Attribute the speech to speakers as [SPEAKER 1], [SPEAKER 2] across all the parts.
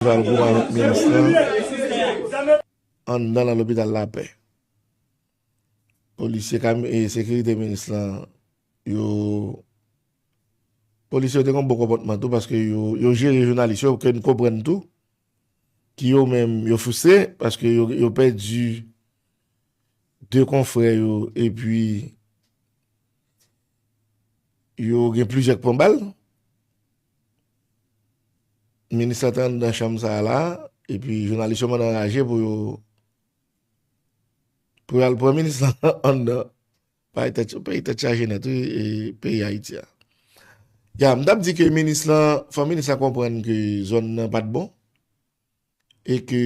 [SPEAKER 1] Valcourt avèk minis lan anndan nan lopital lapè. Polisye e sekirite minis lan yo Polisye yo te gen yon bon konpòtman tou paske yo jere jounalis yo ke n konprann tou ki yo menm yo fristre paske yo pèdi 2 konfrè yo epi yo gen plizyè k pran bal. Minis la te anndan chanm sa a la a, epi jounalis yo mandan raje pou yo pou yo al pran minis la anndan bay tèt yo peyi tèt chaje nèt wi e peyi Ayiti a. Ya m t ap di ke minis la fò minis la konprann ke zòn nan pa t bon. e ke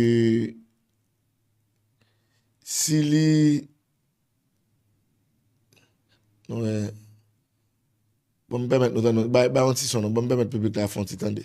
[SPEAKER 1] si li wè bon m pèmèt nou tande yon bay yon ti son non bon m pèmèt piblik la fè yon ti tande.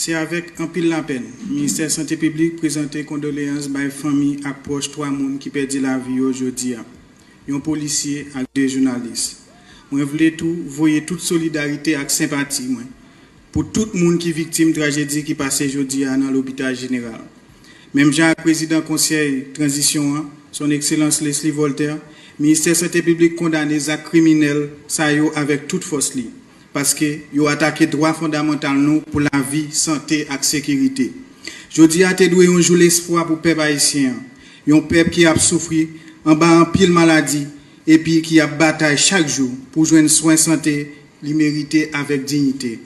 [SPEAKER 2] Se avèk anpil lapèn, Ministè Sante Piblik prezante kondoleyans bay fanmi ak pwòch 3 moun ki pèdi lavi yo jodi a, yon polisye ak 2 jounalis. Mwen vle tou voye tout solidarite ak senpati mwen Pou tout moun ki viktim trajedi ki pase jodi a nan lopital jeneral. Menm jan ak prezidan konsèy tranzisyon an, Son Ekselans Leslie Voltaire, Ministè Sante Piblik kondane zak kriminèl sa yo avèk tout fòs li, paske yo atake dwa fondamantal nou pou lavi, sante ak sekirite. Jodi a te dwe yon jou lespwa pou pèp ayisyen an, yon pèp ki ap soufri anba anpil maladi epi ki ap batay chak jou pou jwenn swen sante li merite avèk dignite.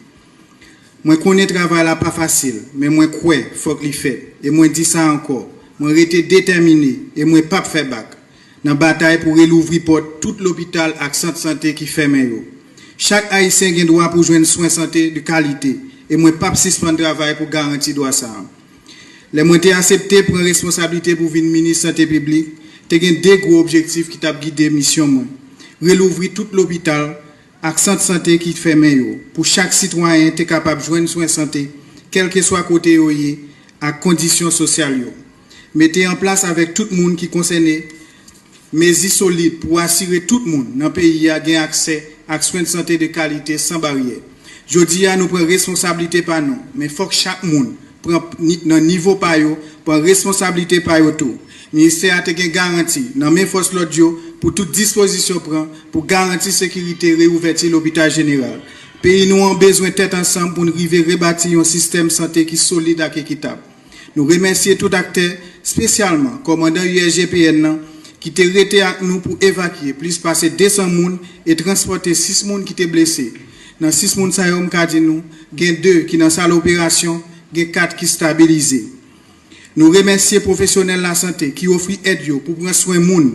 [SPEAKER 2] Mwen konnen travay la pa fasil, men mwen kwè fòk li fèt e mwen di sa ankò, mwen rete detèmine e mwen pap fè bak nan batay pou relouvri pòt tout lopital ak sant sante ki fèmen yo. Chak Ayisyen gen dwa pou jwenn swen sante de kalite e mwen pap sispann travay pou garanti dwa sa a. Lè mwen te asepte pran responsablite pou vin minis Sante Piblik, te gen de gwo objektif ki t ap gide misyon mwen, relouvri tout lopital ak sant sante ki fèmen yo pou chak sitwayen te kapab jwenn swen sante kèlkeswa kote yo ye ak kondisyon sosyal yo, mete an plas avèk tout moun ki konsène Mezi solid pou asire tout moun nan peyi a gen aksè ak swen sante de kalite san baryè. Jodi a nou pran responsablite pa nou, men fòk chak moun pran, nan nivo pa yo, pran responsablite pa yo tou. Ministè a te gen garanti nan men fòs lòd yo pou tout dispozisyon pran pou garanti sekirite reouvèti lopital jeneral. Peyi nou an bezwen tèt ansanm pou n rive rebati yon sistèm sante ki solid ak ekitab. Nou remèsye tout aktè, spesyalman kòmandan USGPN nan ki te rete ak nou pou evakye plis pase 200 moun e transpòte 6 moun ki te blese. Nan 6 moun sa yo m ka di nou gen 2 ki nan sal operasyon, gen 4 ki stabilize. Nou remèsye pwofesyonèl lasante ki ofri èd yo pou pran swen moun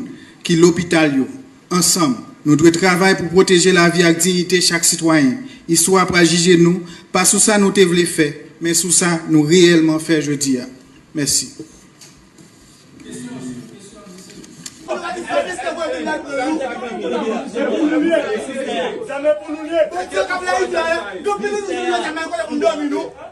[SPEAKER 2] ki lopital yo. Ansanm, nou dwe travay pou pwoteje lavi ak dignite chak sitwayen. Istwa pral jije nou, pa sou sa nou te vle fè, men sou sa nou reyèlman fè jodi a. Mèsi.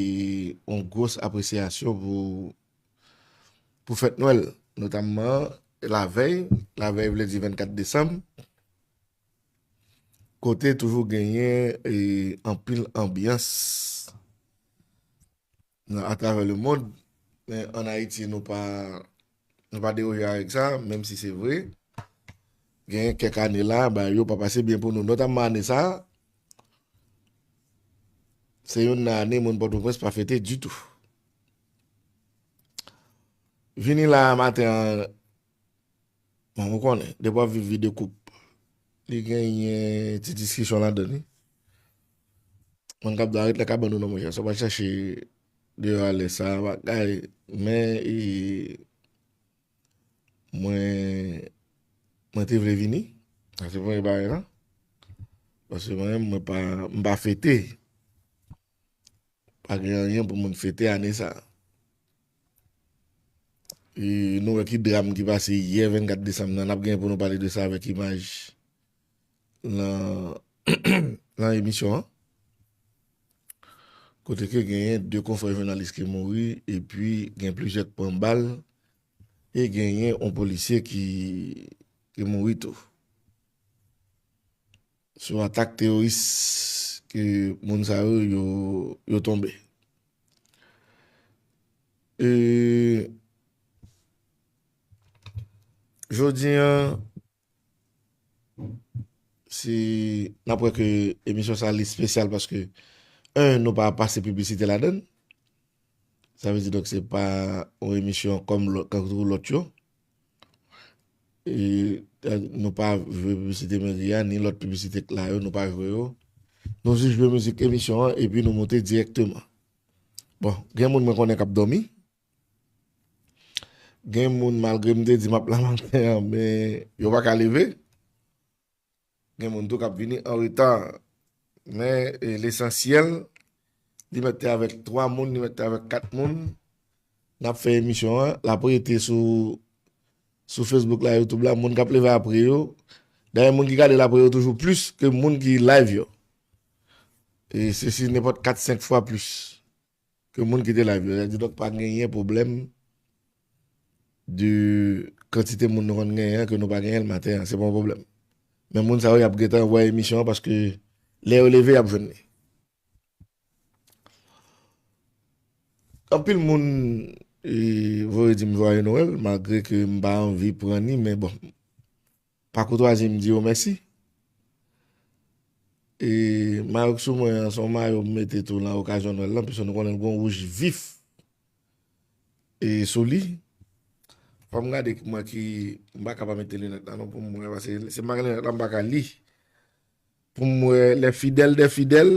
[SPEAKER 1] E yon gwos apresyasyon pou fèt Nwèl, notamman lavèy, lavèy vle di 24 desanm, kote toujou genyen anpil anbyans atravè lemond, men an Ayiti nou pa Nou pa deroje avèk sa, menm si se vre, gen kèk ane la, bagay yo pa pase byen pou nou. Notamman ane sa a, se youn nan ane moun Pòtoprens pa fete ditou. Vini la a maten an, bon ou konnen, depi w ap viv vi de koup, li genyen ti diskisyon ladan li. Moun k ap dò a ret nan kabann ou non monchè, sa w pa chache. Deyo ale sa bagay men mwen mwen te vle vini sa se premye bagay la paske mwen menm mwen pa m pa fete pa gen anyen pou moun fete ane sa nou wè ki dram ki pase yè 24 desanm nan n ap gen pou nou pale de sa avèk imaj lan emisyon an, kote ke genyen 2 konfrè jounalis ki mouri, epi gen plizyè k pran bal, e genyen yon polisye ki mouri tou. Sou atak teyoris ke moun sa yo yo tonbe. E jodi an, Si nap wè ke emisyon sa li spesyal paske 1 nou pa pase piblisite ladann sa vle di donk se pa yon emisyon kòm tankou lòt yo nou pa jwe piblisite meri a ni lòt piblisite k la yo nou pa jwe yo nou jis jwe mizik emisyon an epi nou moute dirèkteman bon gen moun mwen konnen kap dòmi. Gen moun malgre m te di m ap la maten an men yo pa ka leve. Gen moun tou k ap vini an reta. Men lesansyèl li mèt te avèk 3 moun, li mèt te avèk 4 moun. N ap fè emisyon an, l ap rete sou Facebook la, YouTube la, moun k ap leve apre yo. Dayè moun ki gade l apre yo toujou plis ke moun ki live yo. E se si nenpòt 4, 5 fwa plis. Ke moun kite live yo. Di donk pa genyen pwoblèm de kantite moun nou konn genyen an ke nou pa genyen l maten an. Se pa yon pwoblèm. Men moun sa yo y ap gentan wè emisyon an paske lè yo leve y ap jwenn li. Anpil moun voye di m jwaye Noël malgre ke m pa anvi pran ni men bon. Pa koutwazi m di yo mèsi. E mayo k sou mwen an, se yon mayo m mete tou lan okazyon nwèl lan, piske nou konnen l gen yon wouj vif e sou li. Fò m gade mwen ki, m pa ka pa mete linèt la non pou m wè, paske si m pa gen linèt la m pa ka li. Pou m wè lè fidèl dè fidèl.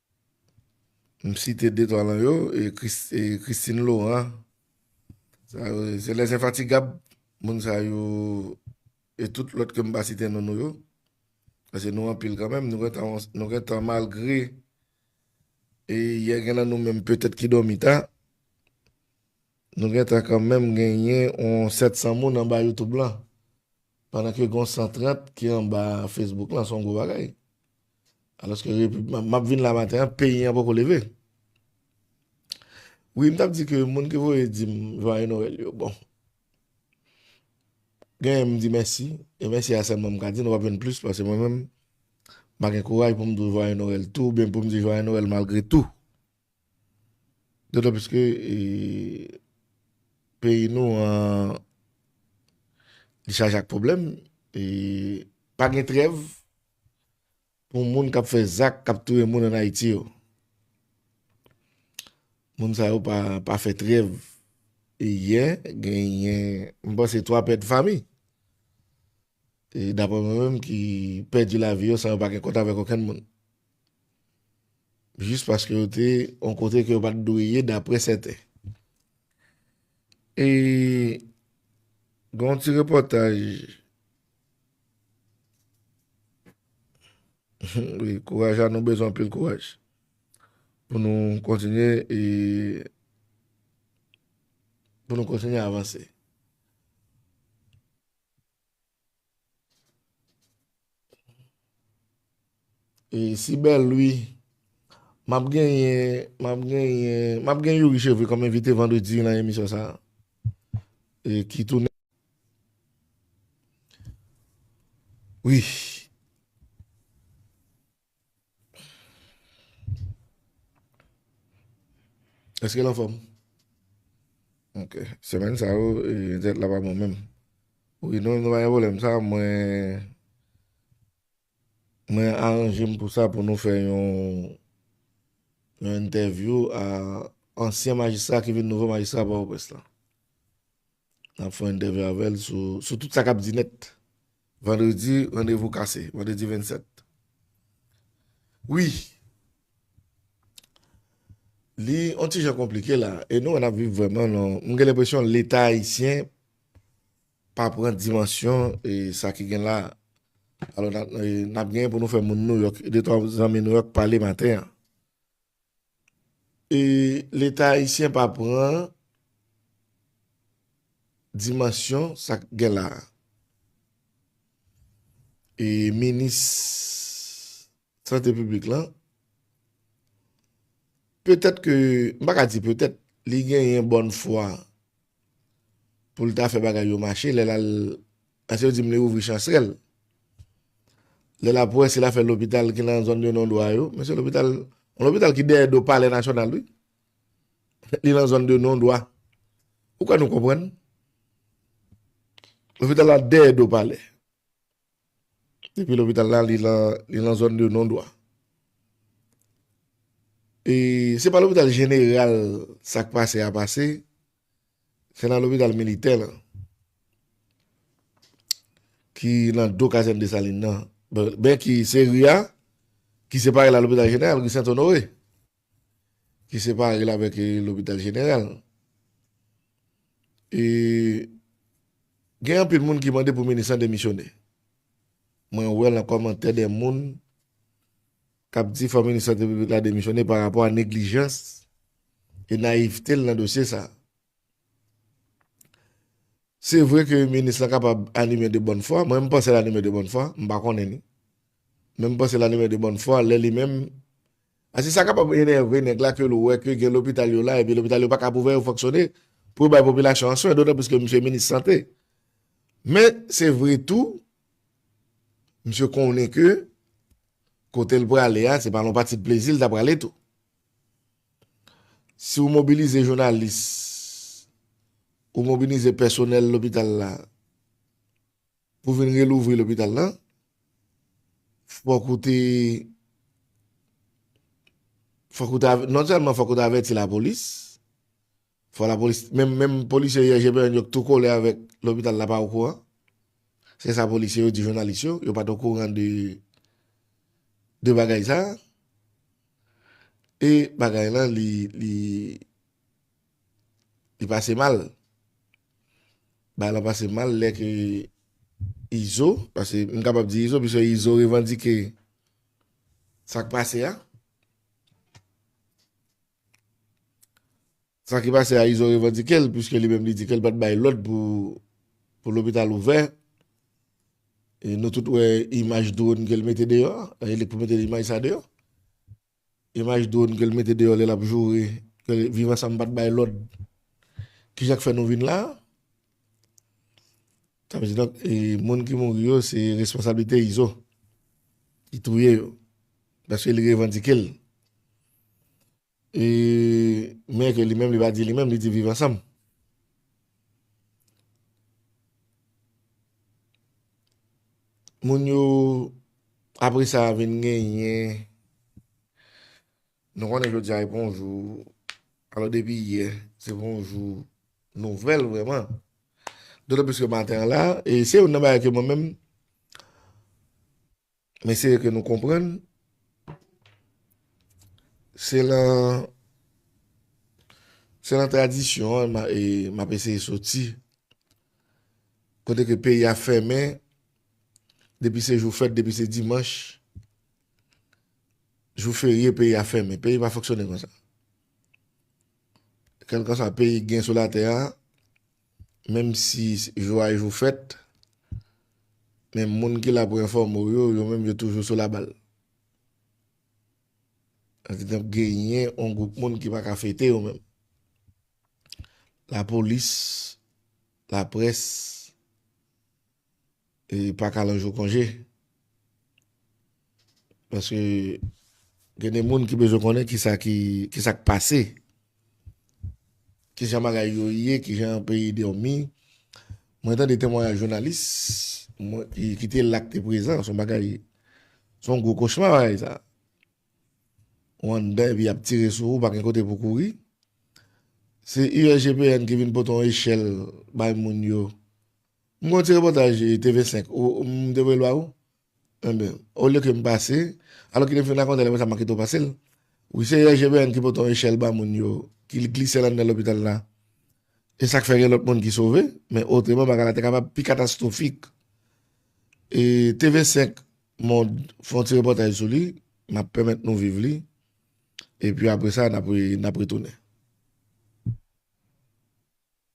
[SPEAKER 1] M site de twa lan yo, Christine Laurent, se les infatigables, moun sa yo, e tout lòt ke m pa site non nou yo, pase nou anpil kanmenm, nou gen tan malgre, e yè gen lan nou menm petèt ki dòmi ta, nou gen tan kanmenm genyen yon 700 moun anba YouTube lan, pandan ke gon 130 ki anba Facebook lan, son gwo bagay. Aloske repib map vin la maten an peyi an poko leve. Wi m tap di ke moun ki voye di m jwaye Noel yo bon. Genyen m di mèsi e mèsi a sèlman m ka di nou pap jwenn plis pase mwen menm m pa gen kouraj pou m di w jwaye Noel tou oubyen pou m di jwaye Noel malgre tou. Dotan plis ke peyi nou an li chaje ak pwoblèm e pa gen trèv. pou moun kap fè zak kap touye moun an Ayiti yo. Moun sa yo pa fè trèv. E yè genyen m panse 3 pèt fami. E dapre mwen menm ki pèdi la vi yo san yo pa gen kont avèk okenn moun. Jis paske yo te an kote ke yo pat dwe ye dapre sèten. E gen yon ti repòtaj. Wi kouraj la nou bezwen anpil kouraj pou nou kontinye e pou nou kontinye avanse. E si bèl ui. Map genyen map genyen map gen Youri cheveux kòm envite vandredi nan emisyon sa e ki tounen wi. Eskel anfòm? Ok semèn sa yo tèt la pa bon menm. Wi non nou pa gen pwoblèm sa mwen. Mwen aranje m pou sa pou nou fè yon yon entèvyou a ansyen majistra ki vin nouvo majistra Pòtoprens lan. N ap fè yon entèvyou avè l sou sou tout sa k ap di nèt. Vandredi randevou kase, vandredi 27. Wi. Li yon ti jan konplike la e nou wè n ap viv vrèman nan m gen lenpresyon leta ayisyen Pa pran dimansyon sa ki gen la. Alò n ap genyen pou nou fè moun Nouyòk, de twa zanmi Nouyòk pale maten an. E leta ayisyen pa pran dimansyon sa k gen la. E minis sante piblik lan, petèt ke, m pa ka di petèt, li genyen bòn fwa. poul ta fè bagay yo mache lèl al paske yo dim li ouvri chansrèl lèl ap wè sil afè lopital ki nan zòn yo non dwa yo men se lopital yon lopital ki dèyè do palè nasyonal wi li nan zòn de non dwa ou kwè nou konprann lopital la dèyè do palè. Epi lopital la li lan li lan zòn de nondwa. E se pa lopital jeneral sa k pase a pase, se nan lopital militè lan ki lan do kazèn Desalin nan, ben ki se ri a ki separe l a lopital jeneral, ri Sentonore. ki separe l avèk lopital jeneral. E gen anpil moun ki mande pou minis lan demisyone. Mwen wè lan kòmantè de moun k ap di fò minis sante piblik la demisyone pa rapò a neglijans e nayivte l lan dosye sa a. Se vre ke minis la kapab anime de bòn fwa, mwen m panse l anime de bòn fwa, m pa konnen li. Men m panse l anime de bòn fwa lè li menm, paske sa kapab enève nèg la ke l wè ke gen lopital yo la epi lopital yo pa kab ouvè yo fonksyone pou yo bay popilasyon an swen, dotan plis ke misye minis sante. Men, se vre tou, misye konnen ke kote l prale a, se pa nan pati plezi l ta prale tou. Si ou mobilize jounalis, ou mobilize pèsonèl lopital la pou vin relouvri lopital la, fòk ou te, non sèlman fòk ou te avèti lapolis, Fò la polis, menm menm polisye yè GPN yo k tou kole avèk lopital la pa okouran. Se sa polisye yo di jounalis yo, yo pat okouran de de bagay sa. E bagay lan li li li pase mal. Bagay lan pase mal lè ke Izo, pase m kapab di Izo pise Izo revandike sa k pase a. Sa ki pase a izo revandike l puiske li menm li di ke l pat bay lòd pou lopital ouvè e nou tout wè imaj dron ke l mete deyò e li pou mete imaj sa deyò imaj dron ke l mete deyò lè l ap joure ke viv ansanm pat bay lòd kijan k fè nou vin la a. Sa vle di donk e moun ki mouri yo se responsablite Izo. Li touye yo. Paske li revandike l. E men ke li menm li pa di li menm li di viv ansanm. Moun yo apre sa vin genyen. Nou konnen jodi a e bon jou, alò depi yè se bon jou nouvèl vrèman. Dotan plis ke maten an la, e se youn nan bagay ke mwen menm m eseye ke nou konprann, se lan se lan tradisyon an m ap eseye soti, kote ke peyi a fèmen depi se jou fèt, depi se dimanch. Jou ferye peyi a fèmen. Peyi pa fonksyone konsa. Kelkansa peyi gen sou la tè a, menm si jou a e jou fèt, men moun ki la pou enfòme ou yo, yo menm yo toujou sou la bal. Evidant genyen yon gwoup moun ki pa ka fete yo menm. La polis, la près. e paka lan jou konje paske gen de moun ki bezwen konnen kisa ki kisa k pase kijan bagay yo ye kijan peyi dòmi mwen tande temwayaj jounalis mwen ki te la k te prezan son bagay son gwo kochma bagay sa ou anndan epi yap tire sou ou pa gen kote pou kouri se USGPN ki vin pote yon echèl bay moun yo M gade yon ti repòtaj TV 5, m te voye l ba ou? Enben, olye ke m pase, alò kite m fin rakonte l apre sa m a kite w pase l. Wi se Yè GBN ki pote yon echèl ba moun yo, ki glise l anndan lopital la. E sa k fè gen lòt moun ki sove, men otreman bagay la te kapab pi katastwofik. E TV 5 Monde fè yon ti repòtaj sou li, m ap pèmèt nou viv li, epi apre sa n ap retounen.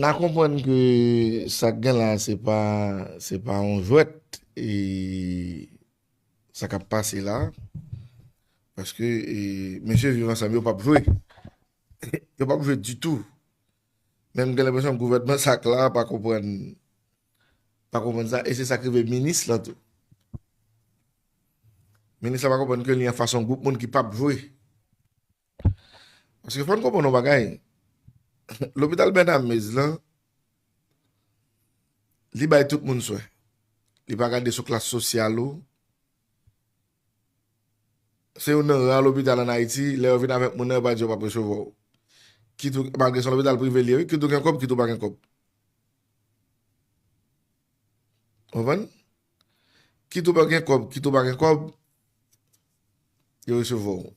[SPEAKER 1] Na konprann ke sa k gen la se pa yon jwèt. Sa kap pase la paske mesye viv ansanm yo pap jwe yo pap jwe ditou menm gen lenpresyon gouvènman sa k la pa konprann pa konprann sa e se sa k rive minis lan tou minis lan pa konprann ke li anfas yon gwoup moun ki pap jwe. Paske fòn konprann yon bagay, lopital Bernamez lan, li bay tout moun swen. Li pa gade sou klas sosyal ou. Se yon nan ra lopital an Ayiti, lè yo vin avèk moun nan, yo pa di yo pa presevwa ou. Kit ou, malgre se yon lopital prive li ye wi, kit ou gen kòb, kit ou pa gen kòb. Ou konprann? Kit ou pa gen kòb, kit ou pa gen kòb, yo resevwa ou.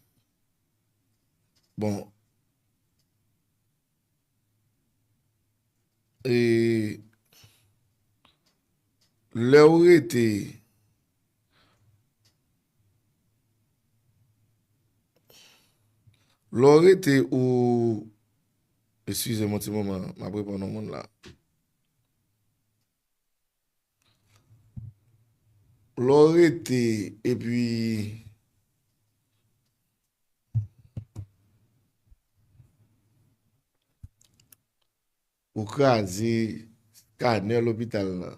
[SPEAKER 1] Bon e lè ou rete lè ou rete ou eskize m yon ti moman m ap reponn yon moun la. Lè w rete epi ou kraze skanè lopital la,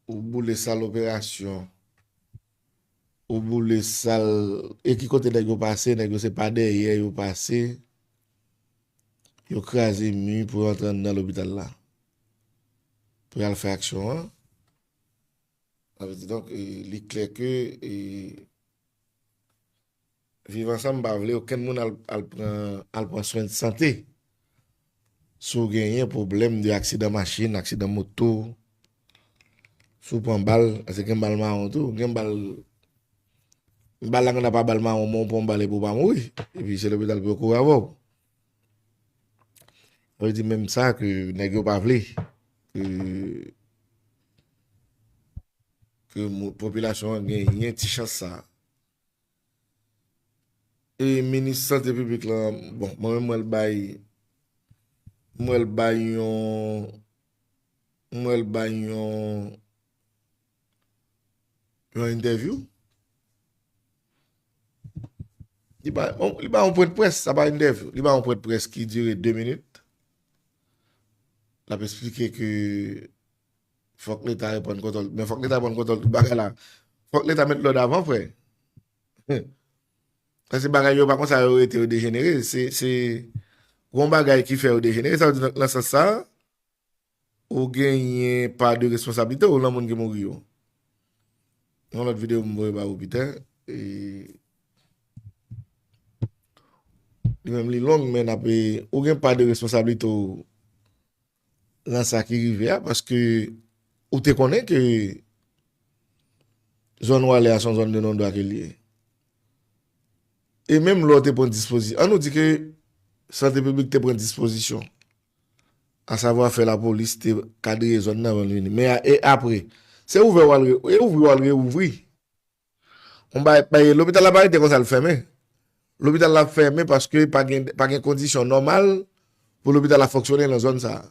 [SPEAKER 1] ou boule sal operasyon, ou boule sal, e ki kote nèg yo pase, nèg yo se pa dèyè yo pase, Yo kraze mi pou yo antre anndan lopital la pou yo al fè aksyon an. Sa vle di donk li klè ke Viv Ansanm pa vle okenn moun al pran swen de sante. Si w genyen pwoblèm de aksidan machin, aksidan moto, Si w pran bal, paske gen bal mawon tou, gen bal, bal la gen ta pa bal mawon men w pran bal epi w pa mouri, epi se lopital pou yo kouri avè w. Sa vle di menm sa ke nèg yo pa vle ke ke popilasyon an genyen ti chans sa. E minis sante piblik la, bon mwen menm m wè l bay, m wè l bay yon M wè l bay yon yon entèvyou. Li bay yon pwen de près, sa pa entèvyou. Li bay yon pwen de près ki dire 2 minit. L ap esplike ke fòk leta reprann kontwòl. Men fòk leta reprann kontwòl tout bagay la. Fòk leta met lòd avan frè. Sa se bagay yo pa konsa yo rete yo dejenere. Se yon bagay ki fè yo dejenere. Sa vle di nan sans sa a. Ou genyen pa de responsabilite ou lan moun ki mouri yo. Yon lot video m voye ba ou pita. Li menm li long men ap e. Ou gen pa de responsabilite ou lan sa ki rive a. Paske ou te konnen ke zon ou ale a son zon de non dwa ke li e. E menm lò te pran dispozisyon. An nou di ke sante publik te pran dispozisyon. Asavwa fè lapolis te kadrye zòn nan avan l vini. Men e apre? Se ouvè w al e ouvri w al reouvri. On bagay bay lopital la pa rete konsa l fèmen. Lopital la fèmen paske pa gen pa gen kondisyon nòmal pou lopital la fonksyone nan zòn sa a.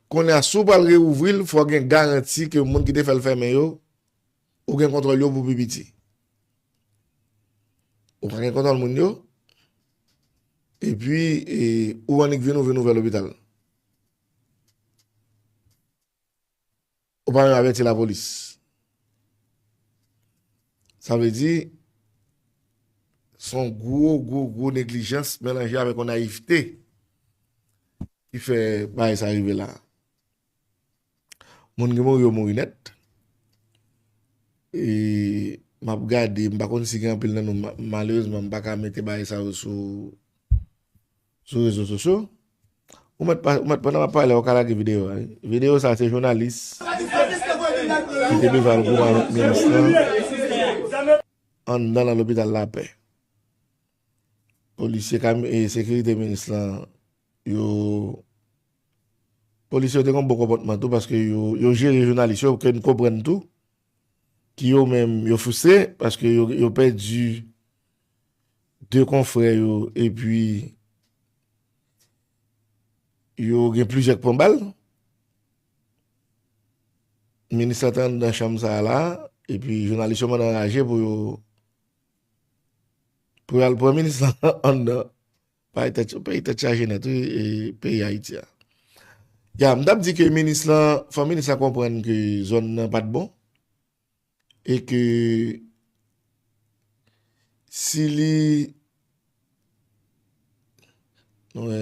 [SPEAKER 1] Kounye a si w pral reouvri l fò gen garanti ke moun ki te fè l fèmen yo ou gen kontwòl yo pou pi piti. Ou pa gen kontwòl moun yo. Epi ou annik vin ou vin ouvè lopital. Ou pa menm avèti lapolis. Sa vle di son gwo gwo gwo neglijans melanje avèk yon nayivte ki fè bagay sa rive la. Moun ki mouri yo mouri nèt. E map gade, m pa konn si gen anpil nan nou, malerezman m pa ka mete bagay sa yo sou sou rezo sosyo. Ou mèt pa, ou mèt pandan map pale a ou ka lage videyo a wi. Videyo sa se jounalis ki te bezwen al goumen avèk minis lan anndan nan lopital lapè. Polisye kami, sekirite minis lan yo. Polisye yo te gon bon konpòtman tou paske yo jere jounalis yo ke n konprann tou ki yo menm yo fristre paske yo pèdi 2 konfrè yo epi yo gen plizyè k pran bal. Minis la te anndan chanm sa la epi jounalis yo mande anraje pou yo al pran minis la anndan. Bay tèt yo peyi tèt chaje nèt wi peyi ayiti a. Ya m tap di ke minis lan fò minis la konprann ke zòn nan pat bon e ke si li nou wè.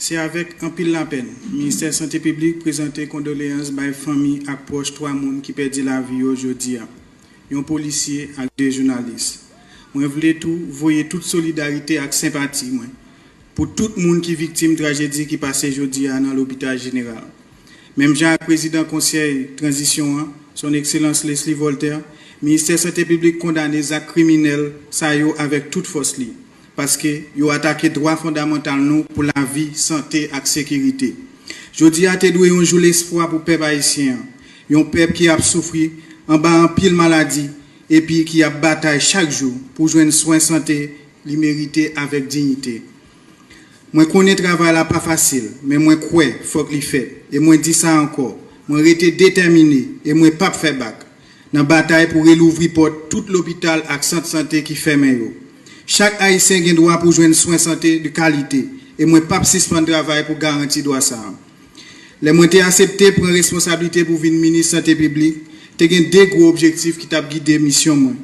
[SPEAKER 2] Se avèk anpil lapèn, Ministè Sante Piblik prezante kondoleyans bay fanmi ak pwòch 3 moun ki pèdi lavi yo jodi a, yon polisye ak 2 jounalis. Mwen vle tou voye tout solidarite ak senpati mwen pou tout moun ki viktim trajedi ki pase jodi a nan lopital jeneral. Menm jan ak prezidan Konsèy tranzisyon an, Son Ekselans Leslie Voltaire, Ministè Sante Piblik kondane zak kriminèl sa yo avèk tout fòs li, paske yo atake dwa fondamantal nou pou lavi, sante ak sekirite. Jodi a te dwe yon jou lespwa pou pèp ayisyen an, yon pèp ki ap soufri anba anpil maladi epi ki ap batay chak jou pou jwenn swen sante li merite avèk dignite. Mwen konnen travay la pa fasil, men mwen kwè fòk li fèt, e mwen di sa ankò, mwen rete detèmine e mwen p ap fè bak, nan batay pou relouvri pòt tout lopital ak sant sante ki fèmen yo. Chak Ayisyen gen dwa pou jwenn swen sante de kalite, e mwen p ap sispann travay pou garanti dwa sa a. Lè mwen te asepte pran responsablite pou vin Minis Sante Piblik, te gen 2 gwo objektif ki t ap gide misyon mwen,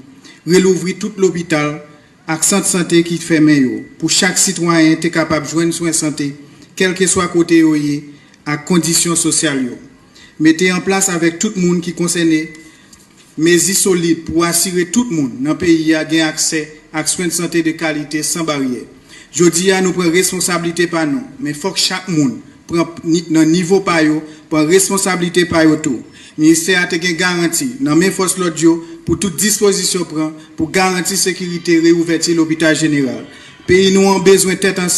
[SPEAKER 2] relouvri tout lopital, ak sant sante ki fèmen yo, pou chak sitwayen te kapab jwenn swen sante kèlkeswa kote yo ye ak kondisyon sosyal yo. Mete an plas avèk tout moun ki konsène mezi solid pou asire tout moun nan peyi a gen aksè ak swen sante de kalite san baryè. Jodi a nou pran responsablite pa nou, men fòk chak moun pran nan nivo pa yo pran responsablite pa yo tou. Ministè a te gen garanti nan men fòs lòd yo pou tout dispozisyon pran pou garanti sekirite reouvèti lopital jeneral. Peyi nou an bezwen tèt ansanm.